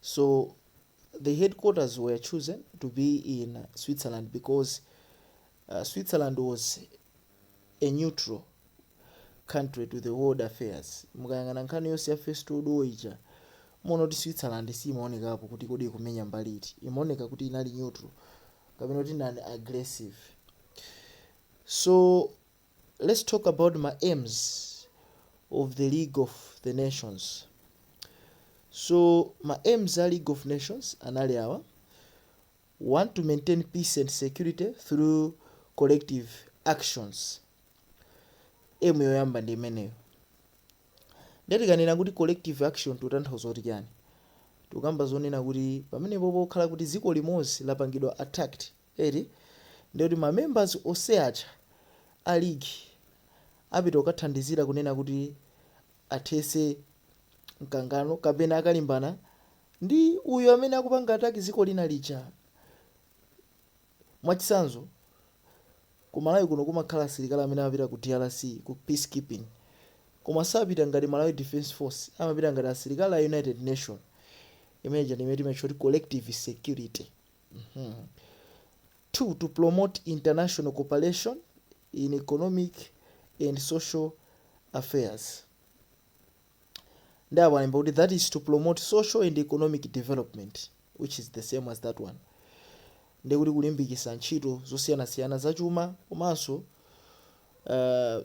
So the headquarters were chosen to be in uh, Switzerland because uh, Switzerland was a neutral country to the world affairs. Mukayang'ana nkhani yonse ya first world war ija muwona kuti Switzerland simaonekapo kuti kodi ikumenya mbali iti, imaoneka kuti inali neutral kapena kuti inali aggressive. So Let's talk about ma aims of the league of the nations. So ma aims a league of nations anali awa, 1 to maintain peace and security through collective actions. Aim yoyamba ndi imeneyo. Ndiye tikanena kuti collective action tikutanthauza kuti chiyani? Tikukamba zonena kuti pamenepo pokhala kuti dziko limodzi lapangidwa attacked eti ndiye kuti ma members onse aja a league apita kukathandizira kunena kuti athese mkangano kapena akalimbane ndi uyo amene akupanga attack dziko lina lija mwachitsanzo ku malawi kuno kumakhala asilikali amene amapita ku drc ku peace keeping koma sapita ngati malawi defense force amapita ngati asilikali a united nation imene ija ndimene timatcha kuti collective security 2 to promote international cooperation in economic and social affairs nde apo alemba kuti that is to promote social and economic development which is the same as that one nde kuti kulimbikitsa ntchito zosiyanasiyana zachuma komanso uh,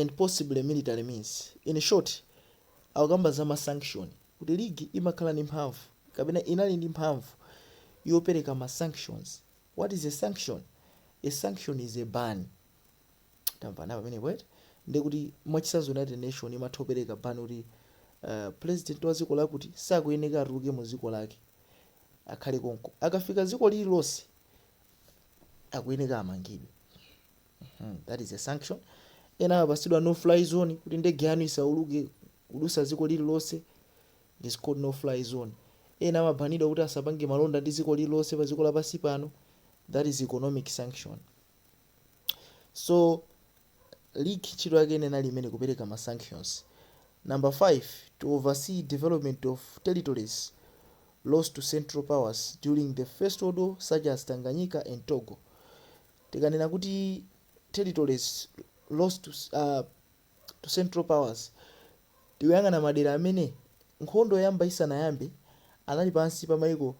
and possibly military means in short akukamba za ma sanction kuti league imakhala ndi mphamvu kapena inali ndi mphamvu yopereka ma sanctions what is a sanction a sanction is a ban tamvana pamenepo eti ndi kuti mwachitsanzo united nation imatha kupereka ban kuti uh, president wa dziko lakuti sakuyeneka atuluke mu dziko lake akhale konko akafika dziko lililonse akuyeneka amangidwe Hmm, that is a sanction. Ena amapatsidwa no fly zone kuti ndege yanu isawuluke kudutsa dziko lililonse. It is called no fly zone. Ena amabanidwa kuti asapange malonda ndi dziko lililonse pa dziko lapansi pano. That is economic sanction. So league ntchito yake ina inali imeneyo kupereka ma sanctions. Number 5 to oversee development of territories lost to central powers during the first world war such as Tanganyika and Togo. Tikanena kuti territories lost to central powers tikuyang'ana madera amene nkhondo yoyamba isanayambe anali pansi pa maiko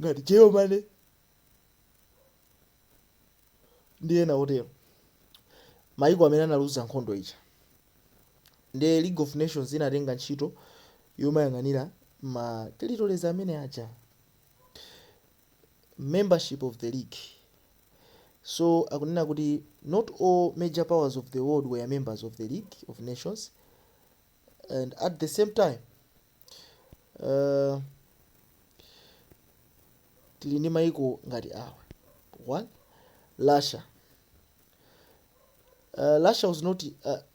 ngati Germany ndi ena otero maiko amene analuza nkhondo ija nde League of Nations inatenga ntchito yomayang'anira ma territories amene aja membership of the league so akunena kuti not all major powers of the world were members of the league of nations and at the same time uh, tili ndi maiko ngati awa one russia uh, russia was not uh,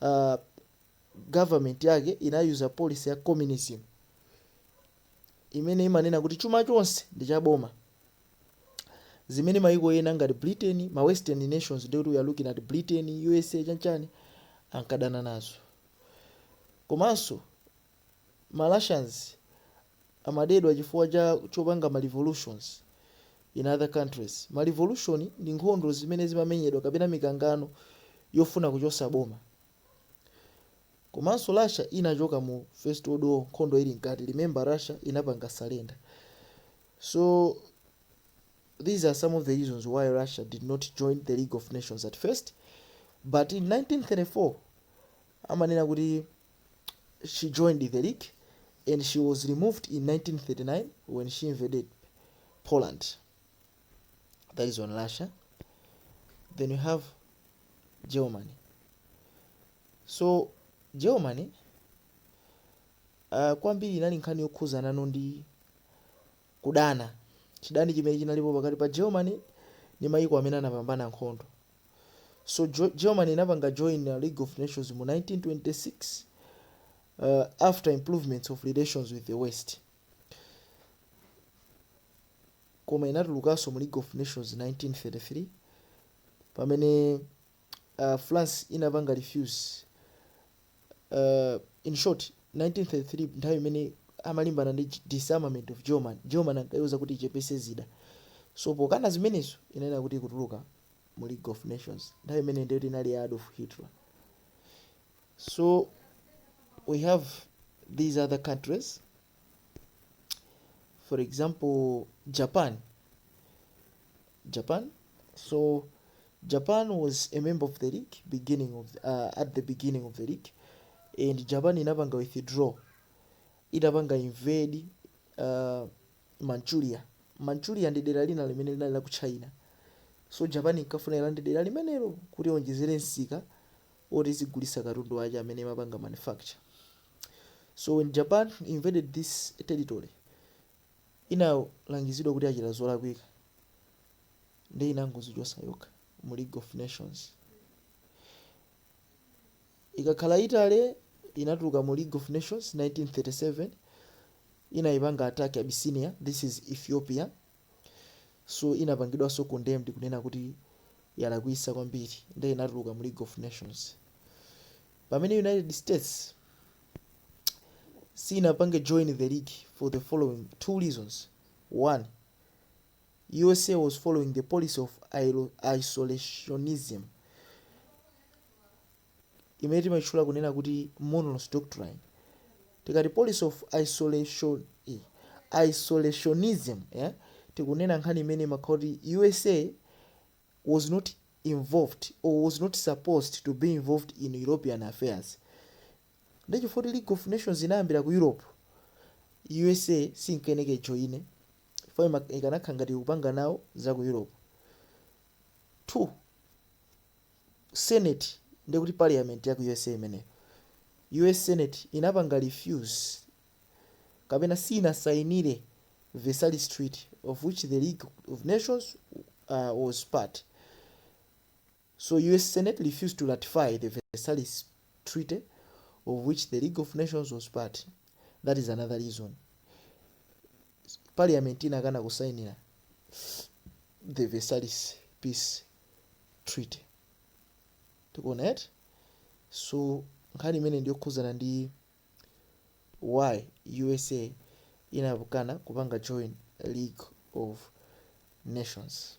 uh, government yake inayuza policy ya communism imene imanena kuti chuma chonse ndi cha boma zimene mayiko ena ngati britain ma western nations ndikuti we are looking at britain usa chanchani ankadana nazo komanso ma Russians amadedwa chifukwa chopanga ma revolutions in other countries, ma revolution ndi nkhondo zimene zimamenyedwa kapena mikangano yofuna kuchosa boma komanso Russia inachoka mu first world war nkhondo ili mkati, remember Russia inapanga surrender so these are some of the reasons why Russia did not join the league of nations at first but in 1934 amanena kuti she joined the League and she was removed in 1939 when she invaded Poland. That is on Russia. Then you have Germany. So Germany uh, kwambiri inali nkhani yokhuzanano ndi kudana chidani chimene chinalipo pakati pa Germany ndi mayiko amene anapambana nkhondo So jo Germany inapanga join uh, League of Nations mu 1926 uh, after improvements of relations with the West. Koma inatulukanso mu League of Nations 1933 pamene uh, France inapanga refuse uh, in short 1933 nthawi imene amalimbana ndi ch- disarmament of german germany ankaiuza kuti ichepese zida so pokana zimenezo inanena kuti ikutuluka mu league of nations nthawi imene ndiyo tinali ya adolf hitler so we have these other countries for example japan japan so japan was a member of the league beginning of uh, at the beginning of the league and japan inapanga withdraw itapanga invade uh, Manchuria. Manchuria ndi dera lina limene linali la ku China. So Japan inkafuna ilande dera limenelo kuti iwonjezere msika woti izigulitsa katundu wake amene imapanga manufacture. So when Japan invaded this territory, inalangizidwa kuti yachita zolakwika nde inangozichotsa yokha mu League of Nations. Ikakhala Italy inatuluka mu league of nations 1937 itaipanga attack Abyssinia this is Ethiopia so inapangidwaso condemned kunena kuti yalakwisa kwambiri nde inatuluka mu league of nations pamene United States siinapange join the league for the following two reasons one usa was following the policy of isolationism imene timaitchula kunena kuti monroes doctrine tikati policy of isolation eh, isolationism eh, tikunena nkhani imene imakhala kuti usa was not involved or was not supposed to be involved in european affairs ndechifukwa kuti league of nations inayambira ku europe usa sinkayenera kujoina chifukwa ima- ikanakhala ngati ikupanga nawo za ku europe 2 senate ndiye kuti parliament ya ku usa imeneyo us senate inapanga refuse kapena sinasainire versailles treaty of which the league of nations uh, was part So US Senate refused to ratify the Versailles Treaty of which the League of Nations was part. That is another reason. Parliament inakana kusainira the Versailles Peace Treaty. Tikuona eti? So nkhani imeneyi ndi yokhudzana ndi why USA inakana kupanga join League of Nations.